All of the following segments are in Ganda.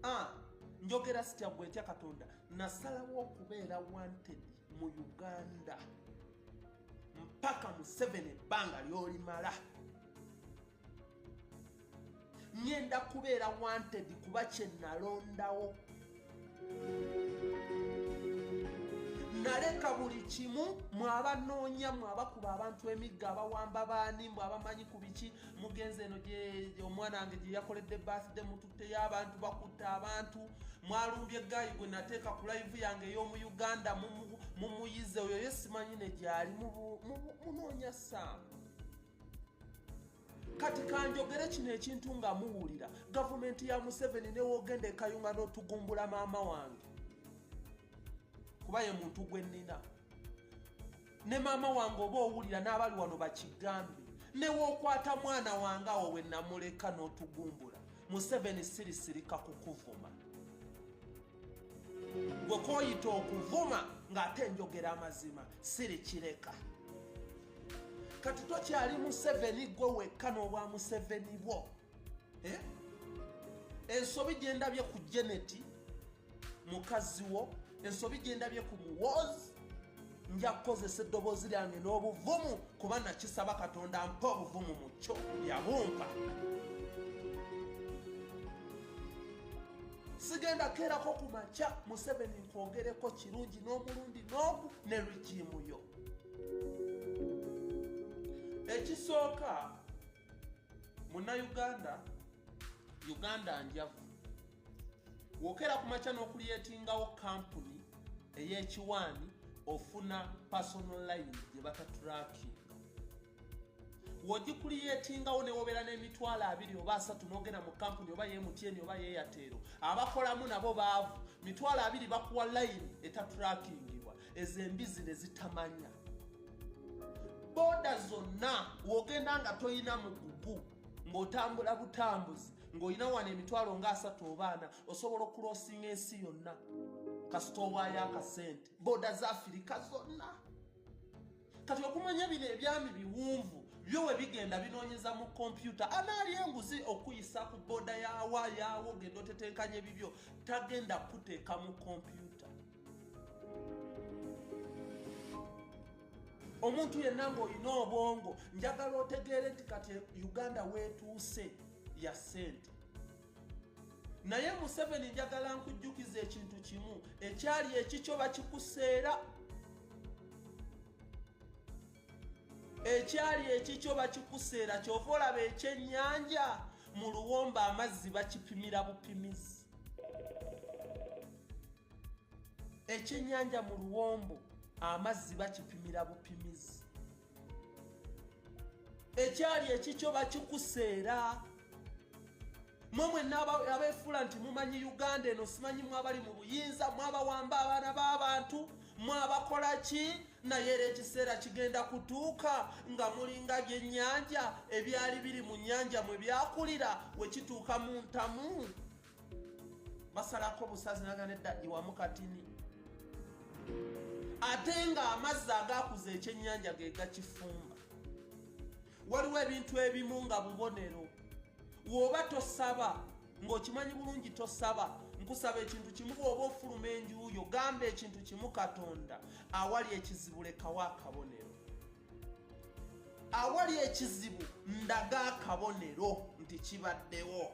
ah, njogera sitya gwe ntya katonda nasalawo okubeera wanted mu uganda mpaka mu seven ebbanga lyolimala ngenda kubeera wanted kuba kyenalondawo naleka buli kimu mwabanoonya mwabakuba abantu emigga abawamba baani mbu abamanyi ku biki mugenzi eno omwana wange gye yakoledde birthday mututteyo abantu bakutte abantu mwalumbye gayi gwe nateeka ku laivu yange ey'omu uganda mumuyize oyo ye simanyi ne gyali munoonya saamu kati kanjogere kino ekintu nga muwulira gavumenti ya museveni newogenda ekayunga n'otugumbula maama wange kuba ye muntu gwe nnina ne maama wange oba owulira n'abali wano bakigambe newookwata mwana wange awo we namuleka n'otugumbula museveni sirisirika kukuvuma gwe kooyita okuvuma ng'ate njogera amazima sirikireka kati tokyali museveni gwe wekka n'obwa museveni bwo eh? ensobi gyendabye ku geneti mukazi wo ensobi gyendabye ku muwoozi nja kukozesa eddoboozi lyange n'obuvumu kuba nakisaba katonda mpa obuvumu mu kyo yabumpa sigenda keerako ku makya museveni nkwogereko kirungi n'omulundi n'ogu ne rigiimu yo ekisooka munnayuganda uganda njavu wokera ku makya n'okulyetingawo kampuni ey'ekiwaani ofuna personal line gye bataturakinga wogikuliyetingawo newobeera n'emitwalo abiri oba asatu nogenda mu kampuni oba yemutyeni oba yeyateero abakolamu nabo baavu mitwalo abiri bakuwa layini etatrakingibwa ezo embizi nezitamanya boda zonna wogenda nga tolina mugugu ng'otambula butambuzi ng'olina wano emitwalo nga asatu obaana osobola okulosinga ensi yonna kasita owaayo akasente boda za afirika zonna kati okumanya bino ebyami biwunvu byo we bigenda binoonyeza mu kompyuta anaali enguzi okuyisa ku booda yaawa yaawo genda otetenkanya ebibyo tagenda kukuteeka mu kompyuta omuntu yenna ng'olina obwongo njagala otegeere nti kati uganda weetuuse ya ssente naye museveni njagala nkujjukiza ekintu kimu ekyali ekikyo bakikuseera ekyali ekikyo bakikuseera kyova olaba ekyennyanja mu luwomba amazzi bakipimira bupimizi ekyennyanja mu luwombo amazzi bakipimira bupimizi ekyali ekikyo bakikuseera mwe mwenna abeefuula nti mumanyi uganda eno simanyi mwabali mu buyinza mwabawamba abaana b'abantu mwabakola ki naye era ekiseera kigenda kutuuka nga mulinga byennyanja ebyali biri mu nnyanja mwe byakulira we kituuka mu ntamu basalako busazi naga nedda iwamu katini ate ng'amazzi agakuza ekyennyanja ge gakifumba waliwo ebintu ebimu nga bubonero woba tosaba ng'okimanyi bulungi tosaba nkusaba ekintu kimu bwoba ofuluma enjuuyo gamba ekintu kimu katonda awali ekizibu lekawo akabonero awali ekizibu ndaga akabonero nti kibaddewo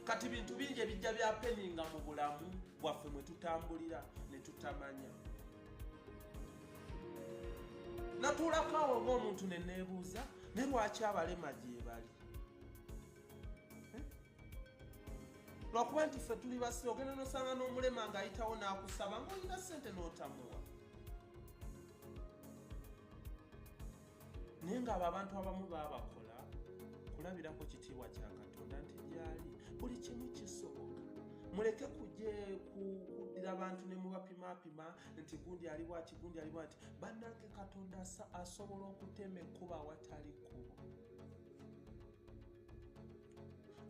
kati bintu bingi ebijja byapeninga mu bulamu bwaffe mwe tutambulira ne tutamanya natuulako awo ng'omuntu ne neebuuza ne lwaki abalema gyebali lwakuba nti ffe tuli basi ogenda nosanga n'omulema ng'ayitawo n'akusaba ng'olina ssente n'otamuwa naye ng'abo abantu abamu baabakola kulabirako kitiibwa kya katonda nti gyali buli kimu kisoboka muleke kuje kuddira abantu ne mubapimapima nti gundi ali bwati gundi ali bwati bannange katonda asobola okutema ekkuba awatali kkubo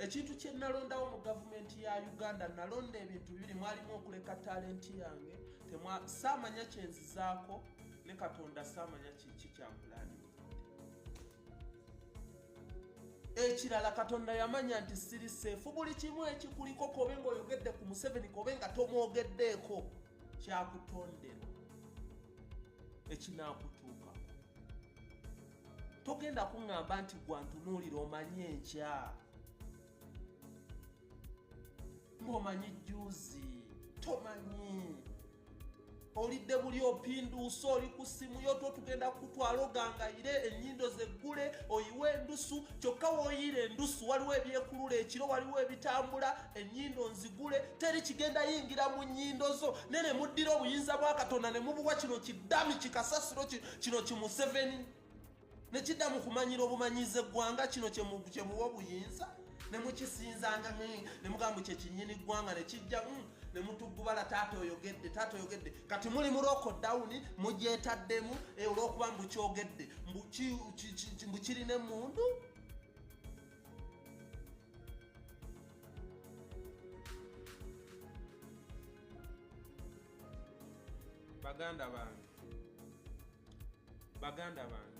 ekintu kye nalondawo mu gavumenti ya uganda nalonda ebintu bibiri mwalimu okuleka talenti yange saamanya kyenzizaako ne katonda saamanya kiki kyampulani ekirala katonda yamanya nti siri seefu buli kimu ekikuliko kobe nga oyogedde ku museveni kobe nga tomwogeddeeko kyakutonderwa ekinakutuukako togenda kuŋŋamba nti gwantunuulira omanyi enkya ng'omanyi jjuuzi tomanyi olidde buli opinduusa oli ku ssimu yo totugenda kukutwala ogangayire ennyindo zeggule oyiwe endusu kyokka woyiira endusu waliwo ebyekulula ekiro waliwo ebitambula ennyindo nzigule teri kigenda yingira mu nnyindo zo ne ne muddira obuyinza bwa katonda ne mubuwa kino kiddami kikasasiro kino kimuseveni nekidda mu kumanyira obumanyize eggwanga kino kyemuwa obuyinza nemukisinzanga nemugamba kyekinyini ggwanga nekijja mm, nemutugubala taata oyogedde taata oyogedde kati muli muloko dawuni mugyetaddemu eh, olwokuba mbu kyogedde mbu kirina emundu baganda bange baganda bange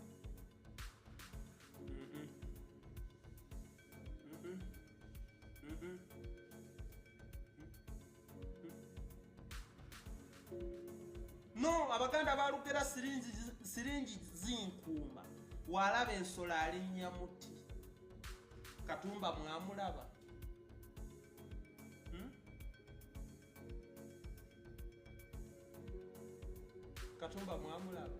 Mhm. Mhm. Mhm. no abaganda balugera siringi siringi zinkuuma walaba ensolo alinnya muti katumba mwamulaba Hmm? katumba mwamulaba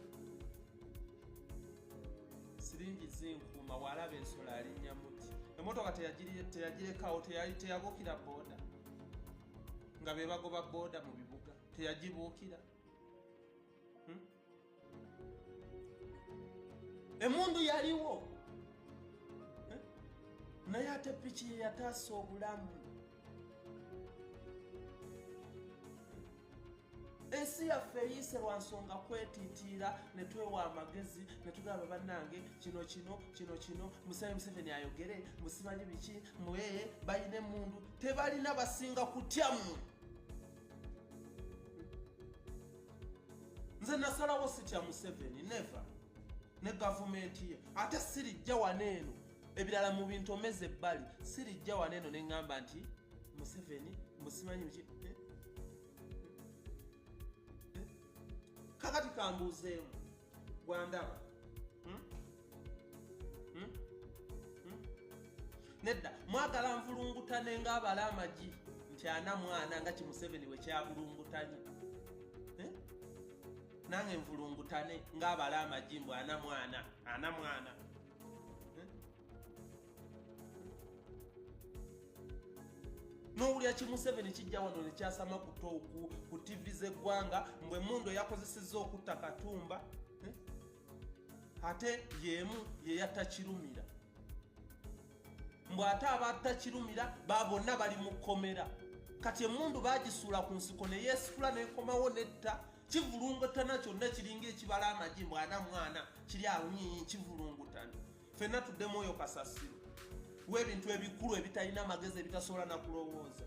siringi zinkuuma walaba ensolo alinnya muti emotoka teyagirekawo teyabuukira booda nga bebagoba booda mu bibuga teyagibuukira hmm? emundu yaliwo eh? naye ate piki yeyataasa obulamu ensi yaffe eyiise lwa nsonga kwetitiira ne twewa amagezi ne tugamba bannange kino kino kino kino museveni museveni ayogere musimanyi biki mwee balina emundu tebalina basinga kutya mmwe nze nasalawo sitya museveni neve ne gavumenti ye ate sirijja wano eno ebirala mu bintu omeze ebbali sirijja wano eno neŋŋamba nti museveni musimanyi ki eh? Eh? kakati kambuuzeemu gwandaba hmm? hmm? Hmm? nedda mwagala nvulungutane ngaabala amagi nti ana mwana nga kimuseveni wekyabulungutanye eh? nange nvulungutane ngaabala amagi mbu ana mwana ana mwana eh? nowulira kimuseveni kijja wano nekyasama kutoku ku tivi zeggwanga mbwe mundu eyakozeseza okutta katumba ate yemu yeyatta kirumira mbu ate abatta kirumira ba bonna bali mu kkomera kati emundu bagisuula ku nsiko neyesikula nekomawo netta kivulungutana kyonna kiringa ekibala amagi mbu ana mwana kiri awunyiyi kivulungutana fenna tuddemu oyo kasasiro webintu ebikulu ebitalina magezi ebitasobola nakulowooza